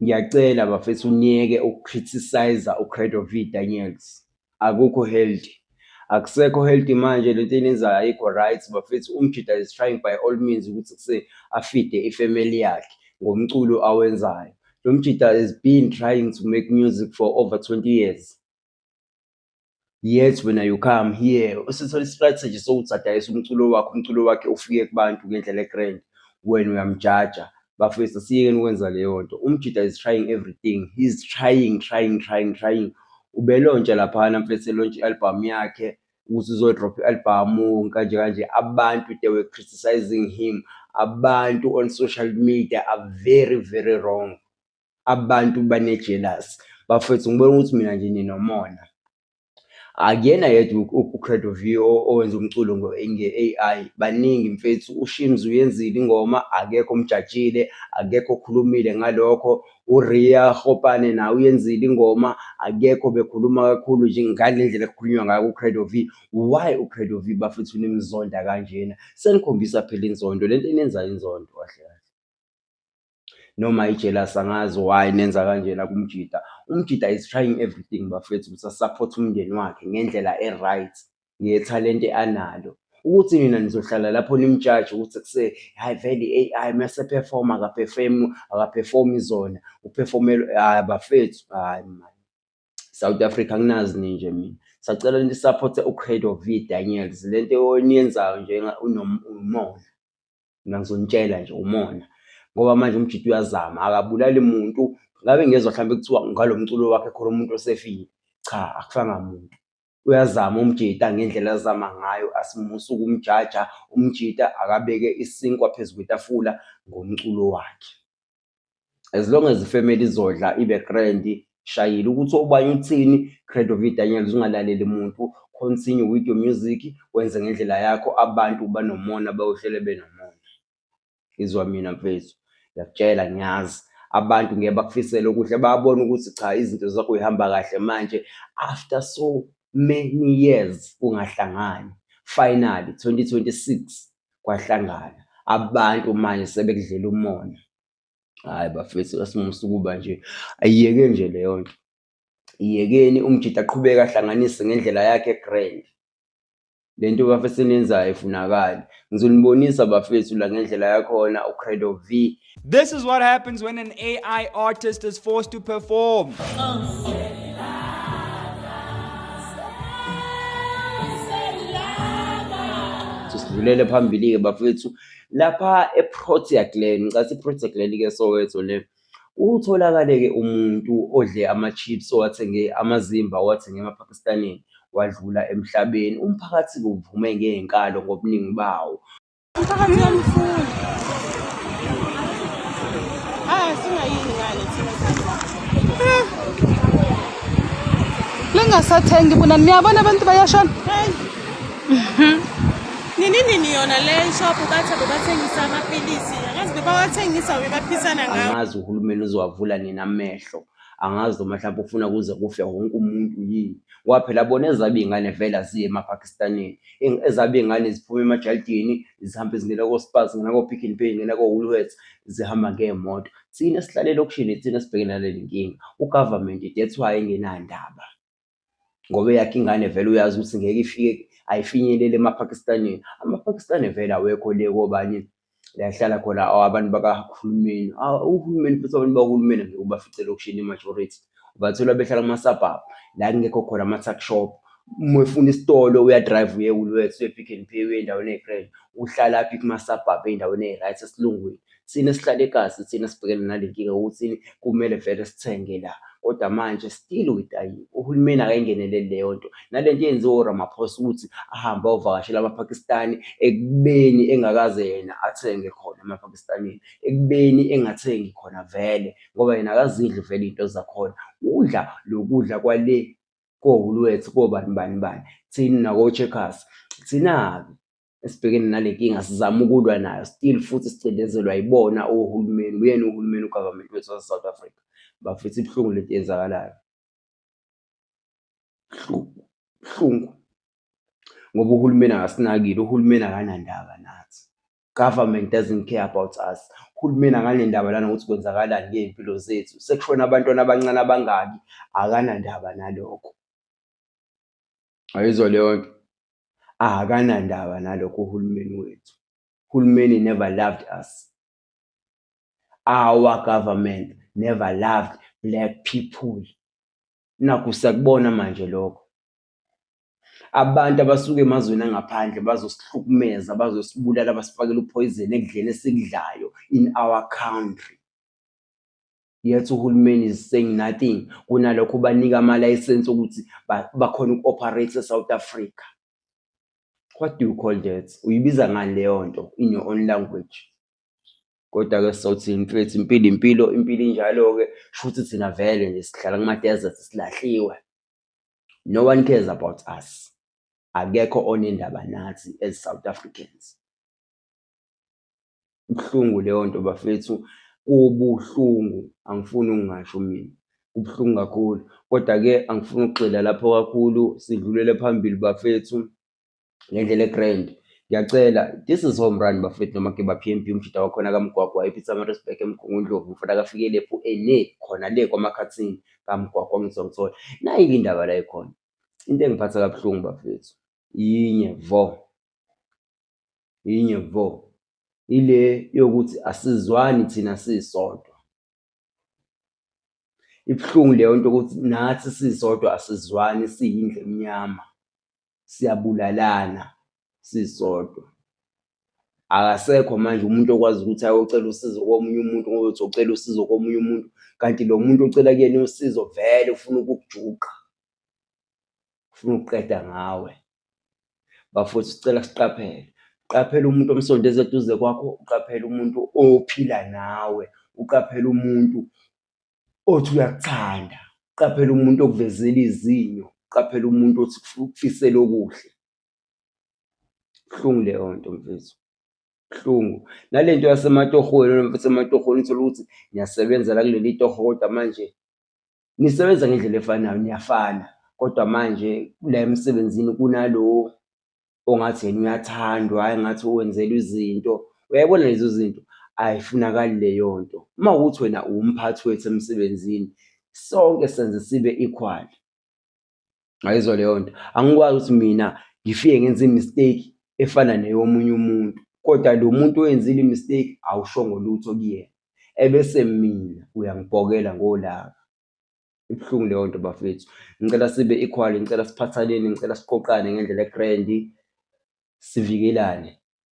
Ngiyacela bafethu niyeke ukucriticize uCredovic Daniels. Akukho healthy. Akusekho healthy manje lento enizayo ayikho right bafethu umjida is trying by all means ukuthi kuse afide ifamily yakhe ngomculo awenzayo. Lo mjida has been trying to make music for over 20 years. yet wena you come here usithola istrategy sokuthi adayisa umculo wakhe umculo wakhe ufike kubantu ngendlela egrand wena uyamjaja bafethu siyekeni ukwenza leyo nto umjida is trying everything he's trying trying trying trying ubelontsha laphana mfethu elontsha i-albhamu yakhe ukuthi uzodropha i-albhamu kanje kanje abantu they were criticizing him abantu on social media are very very wrong Abantu bane-jealous. Bafwethu ngibona ukuthi mina nje ninomona. Akuyena yedwa uCredo V owenza umculo nge-A_I, baningi mfethu. UShimz uyenzile ingoma, akekho omjajile, akekho okhulumile ngalokho. URiya Gopane naye uyenzile ingoma, akekho obekhuluma kakhulu nje ngale ndlela ekukhulunywa ngayo kuCredo V. Why uCredo V bafethu nimzonda kanjena? Senikhombisa phela inzondo, le nto eniyenzayo inzondo kahle kahle. noma ijealous angazi why nenza kanjena kumjita umjita is trying everything bafethu ukuthi asupport umndeni wakhe ngendlela e-right ngethalente analo ukuthi nina nizohlala lapho nimjaje ukuthi kuse hayi vele i-ai mese perform akaperform akaperformi zona uperformela hayi bafethu hayi mani south africa nginazi ninje mina sacela nisapothe ucredo v daniels le nto oniyenzayo njenga unomona mina ngizonitshela nje umona ngoba manje umjita uyazama akabulali muntu ngabe ngezwa mhlawumbe kuthiwa ngalo mculo wakhe khona umuntu osefile cha akufanga muntu uyazama umjita ngendlela azama ngayo asimusa ukumjaja umjita akabeke isinkwa phezu kwetafula ngomculo wakhe as long as ifamily izodla ibe grand shayile ukuthi obanye uthini credovi daniels ungalaleli muntu continue with your music wenze ngendlela yakho abantu banomona bayohlele benomona izwa mina mfethu ngiyakutshela ngiyazi abantu ngeke bakufisele okuhle bayabona ukuthi cha izinto zakho uyihamba kahle manje after so many years kungahlangani finally 2026 kwahlangana abantu manje sebekudlela umona hayi bafethu asimusa ukuba nje ayiyeke nje leyo nto iyekeni umjita aqhubeke ahlanganise ngendlela yakhe grand le nto bafethu eniyenzayo ifunakali ngizonibonisa bafethu la ngendlela yakhona ucredo v This is what happens when an AI artist is forced to perform. sidlulele phambili-ke bafethu lapha eprotea glen ngicatha iprotea glen-ke soweto le utholakale-ke umuntu odle ama-chips owathenge amazimba owathenge emapakistanini wadlula emhlabeni umphakathi-ke uvume ngey'nkalo ngobuningi bawo Umphakathi uyamfuna. Ah, singayini ngale thina. Lingasathengi bona niyabona abantu bayashona. Hey. Nini nini yona le shop bathe bebathengisa amapilisi. Akazi bebawathengisa bebaphisana ngawo. angazi uhulumeni uzowavula nini amehlo angazi noma mhlawumbe ufuna kuze kufe wonke umuntu yini ngoba phela bona ezabo iy'ngane vele aziye emapakistanini ezabe ingane ziphuma emajalidini zihambe zingena kospaz zingena ko-pick and pay zingena ko-woolworths zihamba ngey'moto thina sihlale elokishini thina sibhekene naleli nkinga ugovernment that's why engenandaba ngoba eyakhe ingane vele uyazi ukuthi ngeke ifike ayifinyelele emapakistanini amapakistani vele awekho le kobani la ehlala khona aw, abantu bakahulumeni aw, uhulumeni futhi abantu bakahulumeni ngeke ubafice elokishini i-majority ubathola behlala kuma-suburb la kungekho khona ama-tuck shop uma efuna isitolo uya-drive uye woolworths uye-pick and pay uye endaweni eyi-grand uhlala phi kuma-suburb ey'ndaweni eyi-right esilungwini thina esihlala ekazi thina sibhekene nale nkinga yokuthi kumele vele sithenge la Kodwa manje still uyidayiwe, uhulumeni akayingeneleli leyo nto. Nale nto yenziwa uRamaphosa ukuthi ahambe ayovakashela amaPakistani ekubeni engakaze yena athenge khona emaPakistanini, ekubeni engathengi khona vele ngoba yena akazidli vele iy'nto zakhona. Udla lokudla kwale kohulwethu kobani bani bani, thina nakoCheckers. Thina-ke esibhekene nale nkinga sizama ukulwa nayo still futhi sicindezelwa yibona ohulumeni uyena uhulumeni ugovernment wethu wase-south africa bafisa ibuhlungu lento yenzakalayo buhlungu ngoba uhulumeni akasinakile uhulumeni akanandaba nathi government doesn't care about us uhulumeni akanendaba lana ukuthi kwenzakalani ngey'mpilo zethu sekushona abantwana abancane abangaki akanandaba nalokho ayizwa leyo nto akanandaba nalokho uhulumeni wethu uhulumeni never loved us our government never loved black people nakho sakubona manje lokho abantu abasuke emazweni angaphandle bazosihlukumeza bazosibulala basifakele uphoyizeni ekudleni esikudlayo in our country Yet uhulumeni is saying nothing. Kunalokho ubanika ama-license ukuthi bakhona uku-operate e-South Africa. What do you call that? Uyibiza ngani leyo nto in your own language? Kodwa-ke sawuthini mfethu, impilo impilo, impilo injalo-ke. Shuthi thina vele nje sihlala kuma-desert silahliwe. No one cares about us. Akekho onendaba nathi as South Africans. Kubuhlungu leyo nto bafethu, kubuhlungu angifuni ukungasho mina. Kubuhlungu kakhulu, koda-ke angifuni ukugxila lapho kakhulu sidlulele phambili bafethu ngendlela e-grand. Ngiyacela this is home run bafethu noma ke ba-P_M_B umjita wakhona kaMgwagwa ePietermaritzburg eMgungundlovu mfana kaFikile phu ene khona le kwaMakhathini kaMgwagwa ngizwa ngithola. Nayi-ke indaba la ekhona, into engiphatha kabuhlungu bafethu yinye vo. yinye vo ile yokuthi asizwani thina sisodwa ibuhlungu leyo nto ukuthi nathi sisodwa asizwani siyindle emnyama siyabulalana sisodwa akasekho manje umuntu okwazi ukuthi ayocela usizo komunye umuntu ngoba uthi ucela usizo komunye umuntu kanti lo muntu ocela kuyena usizo vele ufuna ukukujuqa ufuna ukuqeda ngawe bafowethu sicela siqaphele qaphela umuntu omsondeza eduze kwakho uqaphele umuntu ophila nawe uqaphele umuntu othi uyakuthanda uqaphele umuntu okuvezela izinyo uqaphele umuntu othi ukufisela okuhle buhlungu leyo nto mfethu buhlungu nale nto yasematohweni mfethu ematohweni uthole ukuthi ngiyasebenza la kuleli toho kodwa manje nisebenza ngendlela efanayo niyafana kodwa manje la emsebenzini kunalo ongathi yena uyathandwa hhayi ngathi wenzelwa izinto uyayibona lezo zinto ayifunakali leyo nto uma ukuthi wena uwumphathi wethu emsebenzini sonke senze sibe equal ngayizwa leyo nto angikwazi ukuthi mina ngifike ngenze imistake efana neyomunye umuntu kodwa lo muntu oyenzile imistake awushongo lutho kuyena ebese mina uyangibhokela ngolaka ibuhlungu leyo nto bafethu ngicela sibe equal ngicela siphathaneni ngicela siqoqane ngendlela egrandi sivikelane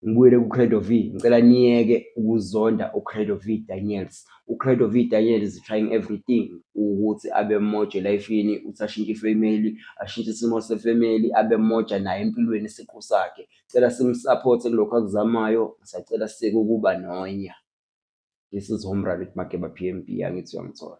ngibuyele kuCredo V ngicela niyeke ukuzonda uCredo V Daniels uCredo V Daniels is trying everything ukuthi abe moja elifini uthi ashintshe ifamily ashintshe isimo sefamily abe moja naye empilweni isiqu sakhe cela simsupporte kulokho akuzamayo sacela sike ukuba nonya this is home run with Mageba PMB angithi uyangithola